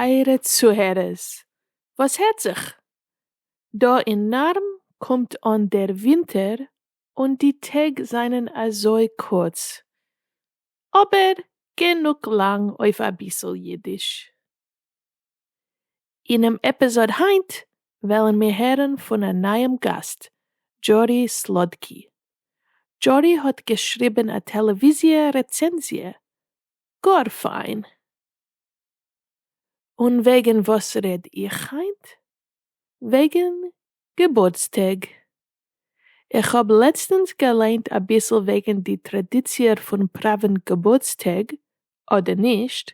טייערע צוהערערס, וואס הערט זיך? דא אין נארם קומט אן דער ווינטער און די טעג זענען אזוי קורץ, אבער גענוג לאנג אויף אביסל אידיש. אינעם עפיזאד היינט וועלן מיר הערן פון א נייעם גאסט, דזשורי סלאדקי. דזשורי האט געשריבן א טעלעוויזיע רעצענזיע, גאר פיין! און וועגן וואס רעד איך היינט? וועגן געבורטסטאג. איך האב לעצטענס געליינט אביסל וועגן די טראדיציע פון פראווען געבורטסטאג אדער נישט,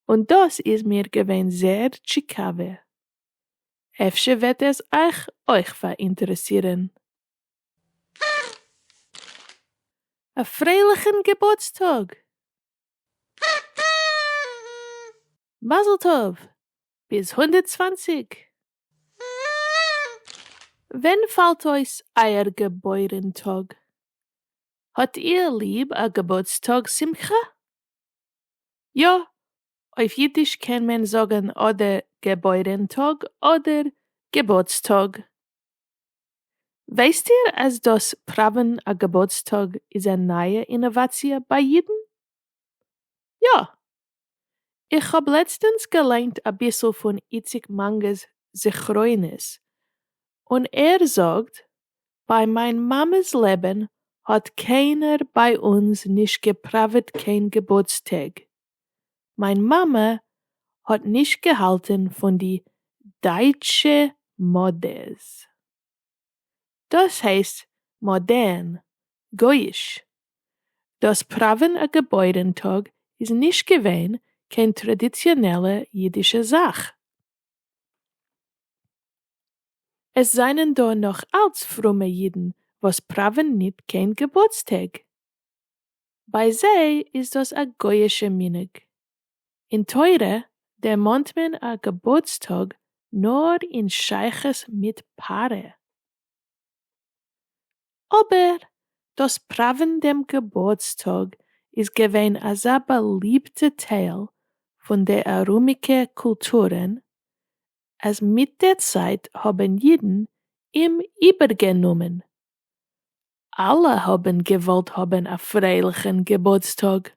און דאס איז מיר געווען זעהר טשיקאווע. אפשר וועט עס אייך אויך פאראינטערעסירען. א פרייליכען געבורטסטאג! מזל טוב! ביז הונדערט צוואַנציק! ווען פאלט אויס אייער געבוירן טאג? האט איר ליב א געבורטס טאג שמחה? יא, אויף אידיש קען מען זאגן אדער געבוירן טאג אדער געבורטס טאג. ווייסט איר אז דאס פראווען א געבורטס טאג איז א נייע אינאוואציע ביי אידן? יא! איך האב לעצטענס געליינט אביסל פון איציק מאנגע'ס זכרונות, און ער זאגט, ביי מיין מאמע'ס לעבען האט קיינער ביי אונז נישט געפראוועט קיין געבורטס טעג, מיין מאמע האט נישט געהאלטען פון די דייטשע מאדעס. דאס הייסט מאדערן, גוי'איש. דאס פראווען א געבוירן טאג איז נישט געווען קיין טראדיציאנעלע אידישע זאך. עס זענען דא נאך אלץ פרומע אידן וואס פראווען ניט קיין געבורטסטעג. ביי זיי איז דאס א גוי'אישע מנהג. אין תורה דערמאנט מען א געבורטס טאג נאר אין שייכות מיט פרה. אבער דאס פראווען דעם געבורטס טאג איז געווען אזא באליבטע טייל פון די ארומיגע קולטורען אז מיט דער צייט האבן אידן אים איבערגענומען. אלע האבן געוואלט האבן א פרייליכן געבורטס טאג.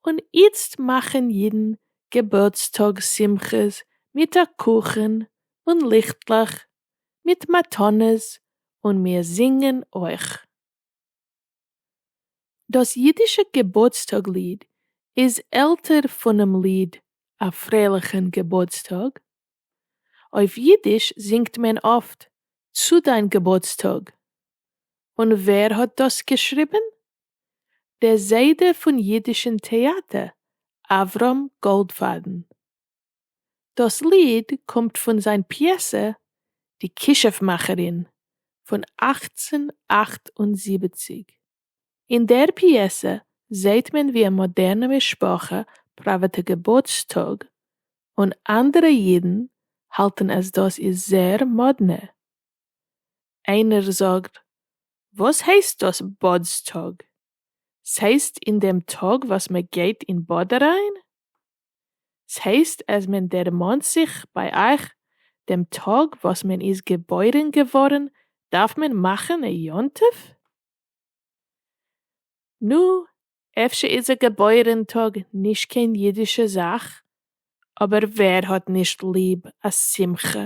און איצט מאכן אידן געבורטסטאג שמחות מיט א קוכן און ליכטלעך מיט מתנות און מיר זינגן אויך. דאס אידישע געבורטסטאג ליד איז עלטער פונעם ליד א פרייליכן געבורטסטאג. אויף אידיש זינגט מען אפט צו דיין געבורטסטאג. און ווער האט דאס געשריבן? דער זיידע פון יידישן טעאַטער אַבֿרהם גאָלדפֿאַדן. דאָס ליד קומט פֿון זײַן פּיעסע די כּישוף-מאַכערין פֿון אַכצן אַכט און זיבעציק. אין דער פּיעסע זעט מען ווי אַ מאָדערנע משפּחה פּראַוועט געבורטסטאָג, און אַנדערע ייִדן האַלטן אַז דאָס איז זער מאָדנע. איינער זאגט וואס הייסט דאס באד'ס טאג? ס'הייסט אין דעם טאג וואס מ'גייט אין באד אריין? ס'הייסט אז מען דערמאנט זיך ביי אייך דעם טאג וואס מען איז געבוירן געווארן דארף מען מאכן א יום טוב? נו, אפשר איז א געבוירן טאג נישט קיין אידישע זאך, אבער ווער האט נישט ליב א שמחה?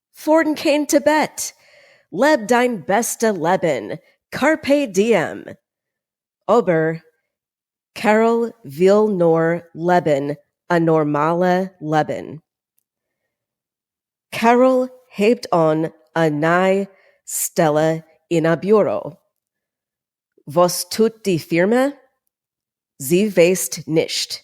פארן קיין טיבעט, לעב דיין בעסטע לעבן, קארפעי דיעם! אבער קעראל וויל נאר לעבן א נארמאלע לעבן. קעראל הייבט אן א ניי סטעלע אין א ביורא. וואס טוט די פירמע? זי ווייסט נישט.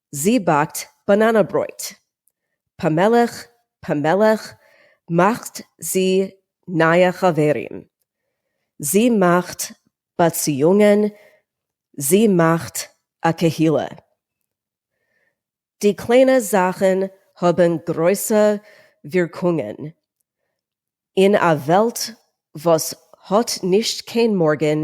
זי באקט באנאנא ברויט. פאמעלעך פאמעלעך מאכט זי נייע חברים. זי מאכט באציאונגען זי מאכט א קהילה. די קליינע זאכן האבן גרויסע ווירקונגען. אין א וועלט וואס האט נישט קיין מארגן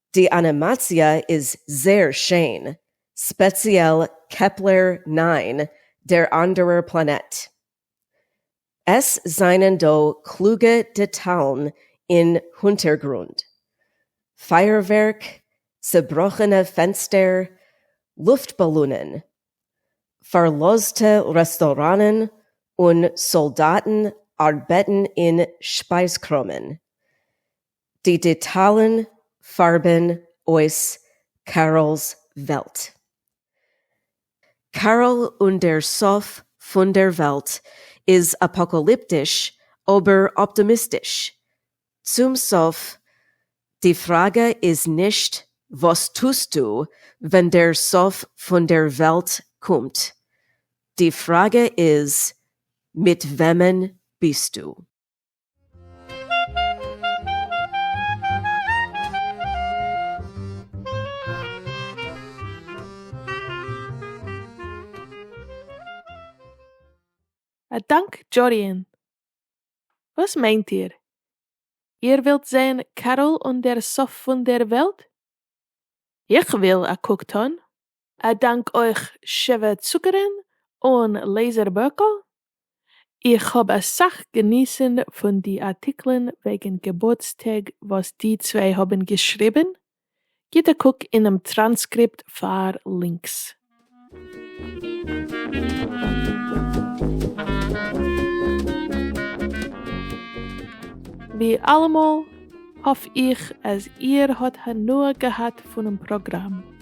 די אנימאציע איז זעהר שיין, ספעציעל קעפלער נײַן, דער אנדערער פלאנעט. עס זענען דא קלוגע דעטאלן אין הונטערגרונד. פייערווערק, צעבראכענע פענסטער, לופט באלונען, פארלאזטע רעסטוראנען און סאלדאטן ארבעטן אין שפייזקראמען. די דעטאלן פארבן אויס קארל'ס וועלט. קארל און דער סוף פון דער וועלט איז אפאקאליפטיש אבער אפטאמיסטיש. צום סוף, די פראגע איז נישט וואס טוסטו ווען דער סוף פון דער וועלט קומט, די פראגע איז מיט וועמען ביסטו. א דאנק דזשאדיען! וואס מיינט איר? איר ווילט זעהן קארול און דער סוף פון דער וועלט? איך וויל א קוק טון! א דאנק אויך שבע צוקערן און לעיזער בערקל, איך האב אסאך געניסן פון די ארטיקלען וועגן געבורטס טעג וואס די צוויי האבן געשריבן, גיב א קוק אינעם טראנסקריפט פאר לינקס. ווי אלעמאל, האף איך אז איר האט הנאה געהאט פונעם פראגראם.